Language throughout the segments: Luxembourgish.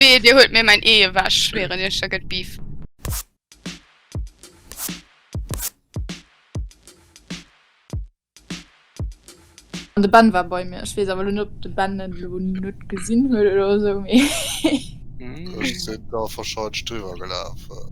Wee, dir huelt mir mäin Ee ewech, schwéieren iech, da gëtt Beef. An de Ben war bei mir. Ech weess awer elo net, ob de Ben en elo net gesinn huet oder esou, mee. Ech sinn da verscheidenst driwwer gelafen.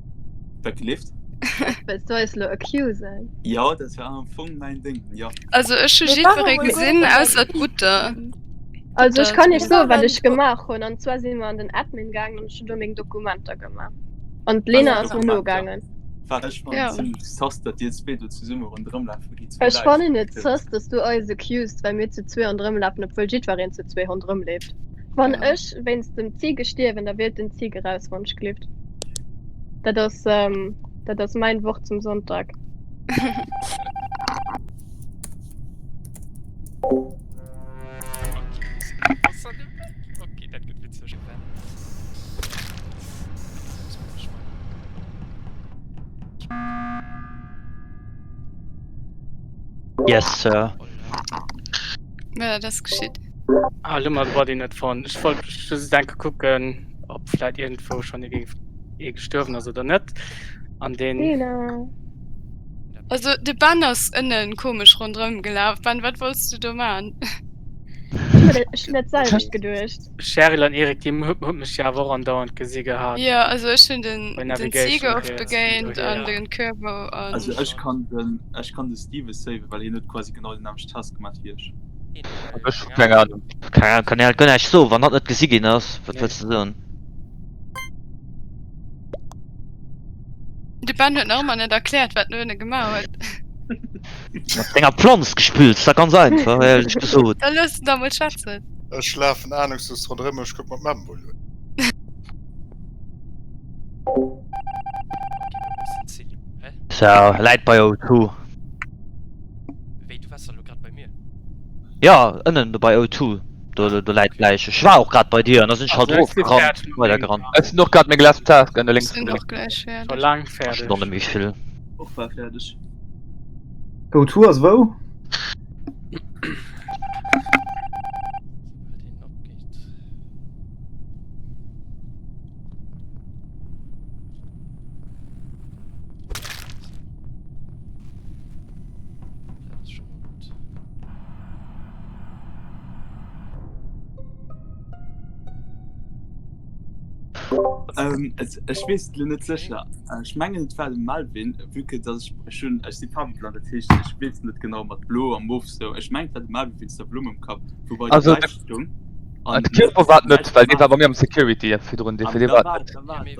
Dat gelift. Wëlls du eis lo accusen? Ja, dat war am Fong mäin Ding, ja. Also ech hu Mir jiddweree waren mol gesinn gucken, ausser d'Butter. Also ech Butter. kann iech Mir soen, wat waren ech gucken. gemaach hunn. An zwar si mer an den Admin gaangen an ech hunn do meng Dokumenter gemaach. An d'Lena ass mer Dokumenter. nogaangen. Wat ech fannen, Ja. zimmlech sus, datt dir zwee do zesumme ronderëm lafe gitt. Zu Ech Bläiweg fannen et gelift. sus, datt du eis accused, well mir zu zwee ronderëm lafen, obwuel jiddwereen zu zwee ronderëm leeft. Wann ja. ech wéinst dem Zige stierwen, da wielt den Zige raus wann ech gelift. Dat ass ähm, dat ass mein Wort zum Sonntag. Okay, dat gëtt witzeg. Yes, Sir. Ja, das geschieht. Ah, lo mal war den net von. Ich wollte just denke gucken, ob vielleicht irgendwo schon irgendwie eh gestorben ist oder nicht. An den. Genau. Also de Ben ass ënnen komesch rondrëm gelaf. Ben, wat wolls du do man? net geduecht. Cheryl an Erik die hun mech ja wo an dauernd gesi gehabt. Ja also ech hun den Zeger oft begéint an den Körper. Also ech kann den ech kann de Steve save, well hin huet quasi genau den nämlecht Task gemacht wie ech. Ech hu keng Ahnung. Keine Ahnung, kann dir halt guer näischt soen. Wann dat net gesi ginn ass, wat wëlls de soen? De Ben huet nach ëmmer net erkläert, wat en duerno gemaach huet. Mat senger Planz gespillt, ass dach ganz einfach, éierlech gesot. Da looss en da mol schwätzen. Ech lafen ahnungslos ronderëm, ech kuck mer d'Memboull un. Tja, läit bei O2. Ass der elo grad bei mir? Jo, ënnen do bei O2. Do, do läit d'Läich. Ech war och grad bei dir an da sinn ech halt erofgerannt, weidergerannt. Ech sinn och grad meng last Task ënne lénks gemaach. Stonne méi vill. Och war fäerdeg. O2 ass wou? Ähm, ech wees lo net secher. Ech mengen et war de Melvin, vu que dat ech ech hunn ech si farweblann, dat heescht ech weess net genau mat blo a mof sou. Ech mengt et war de Melvin wéinst der Blumm um Kapp, wou bei Also, Däitsch stoung. An de Kierper war et net, well dee war bei mir am Security virdrun, dee fir dee war et net.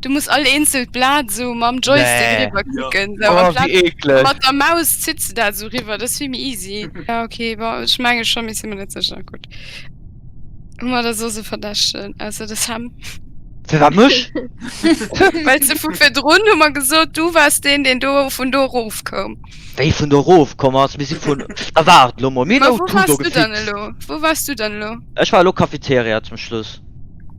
Du muss all eenzelt Blat sou mam Joystick nee. riwwer klicken nee. sou, oh, wéi eeklech. Mat der Maus zitts de dat sou riwwer, dat ass vill méi easy. Ja ok, bon ech menge schonn, mee sinn mer net sécher. Gutt, hu mer da soss e Verdächtegen, ausser de Sam. Firwat mech? Well se vu virdrun hu mer gesot, du waars deen, deen do vun do erof koum. Wéi vun do erof komm ass? Mir si vun. A waart lo mol, mir hunn Auto do gefixt. Wou waars du dann elo? Wou waars du dann elo? Ech war elo Cafeteria zum Schluss.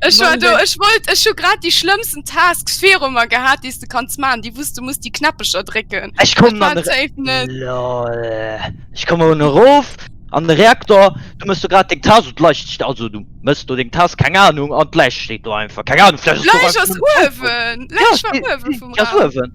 Ech war do, ech wollt, ech hu grad déi schlëmmsten Tasks viru mer gehat, déi s de kanns maachen, déi wou s de muss déi Knäppecher drécken. Ech kommen an de Ech kommen un erof an de Reaktor, du mëss do grad deng Task un d'Leicht st also du mëss do deng Task, keng Anung, an d'Läich steet do einfach, keng Anung, vläicht ass do einfach. D'Läich ass uewen, d'Läich war uewen vum Raum.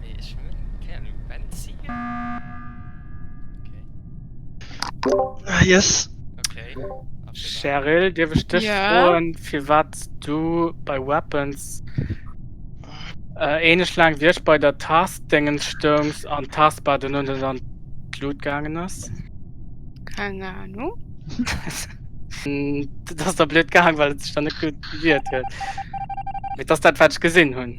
Mee ech hunn keng Anung, Benzin? Okay. Yes. Okay. Cheryl, dierf ech dech froen, firwat s du bei Weapons ähnlech laang wéi ech bei der Task-Déngens stoungs an d'Taskbar duerno net an d'Lut gaangen ass? Keng Anung. Dat ass da blöd gaang, well et sech da net gutt gewiert huet. Mee et ass dat, wat ech gesinn hunn.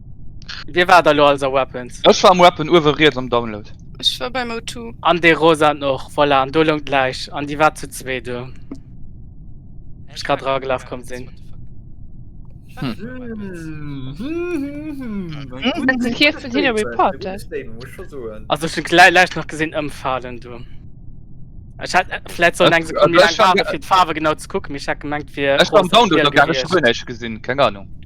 Wie war da lo alles a Weapons? Ech war am Weapon uewe riets am Download. Ech war beim O2. An dee rosaten och, voilà, an do loung d'Läich. An déi war zu zwee do, wou ech grad eragelaf komm sinn. Also ech hunn d'Läich nach gesinn ëmfalen do. Ech hätt vläit sollen eng Sekonn méi laang waarde fir d'Faarwe genau ze kucken, mee ech hat gemengt et wier. Ech war am Download, do hat ech guer näischt gesinn, keng Anung.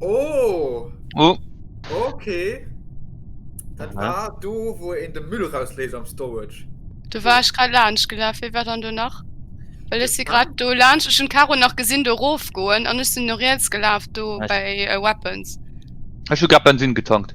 Oh! Oh! Okay. Dat Aha. war do, wo en de Müll rausléist am Storage. Du war ech grad laanscht gelaf, wie war dann do nach? Well ech si grad do laanscht, ech hun Caro nach gesinn do rof goen an ech sinn no riets gelaf do Echt? bei äh, Weapons. Ech hu grad Bensin getankt.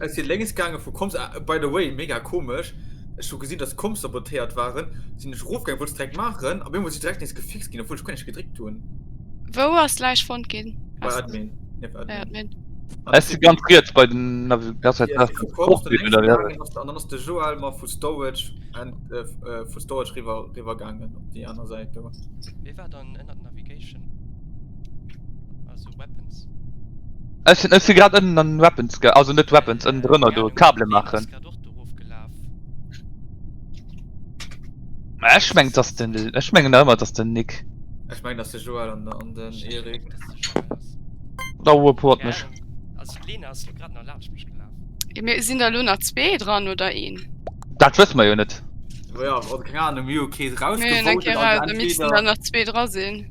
Ech sinn lénks gaange vu Komm, by the way mega komesch, ech hu gesinn dass Komm sabotéiert waren, sinn ech erofgaangen, wollt et direkt maachen a beemol si direkt nees gefixt ginn obwuel ech guer näischt gedréckt hunn. Wou ass d'Läich fonnt ginn? Bei Admin, nieft Admin. Ech si ganz riets bei den Navigatiounstest vu Komm, sinn lénks gaangen an dann ass de Joël mer vu Storage riwwer gaangen op déi aner Säit do. Wee war dann ënnert Navigation? Also Weapons. Ech sinn ech si grad ënnen an Weapons ge also net Weapons ënnen drënner do Kable maachen. Ech meng dass den ech mengen da ëmmer dass den Nick. Ech meng dass de Joel an an den Erik. Da report mech. Mir sinn der lo nach zwee dran oder een? Dat wësse mer jo net. Jo jo, keng Ahnung, mir hu kee rausgewot. Mir missten dann nach zwee dra sinn.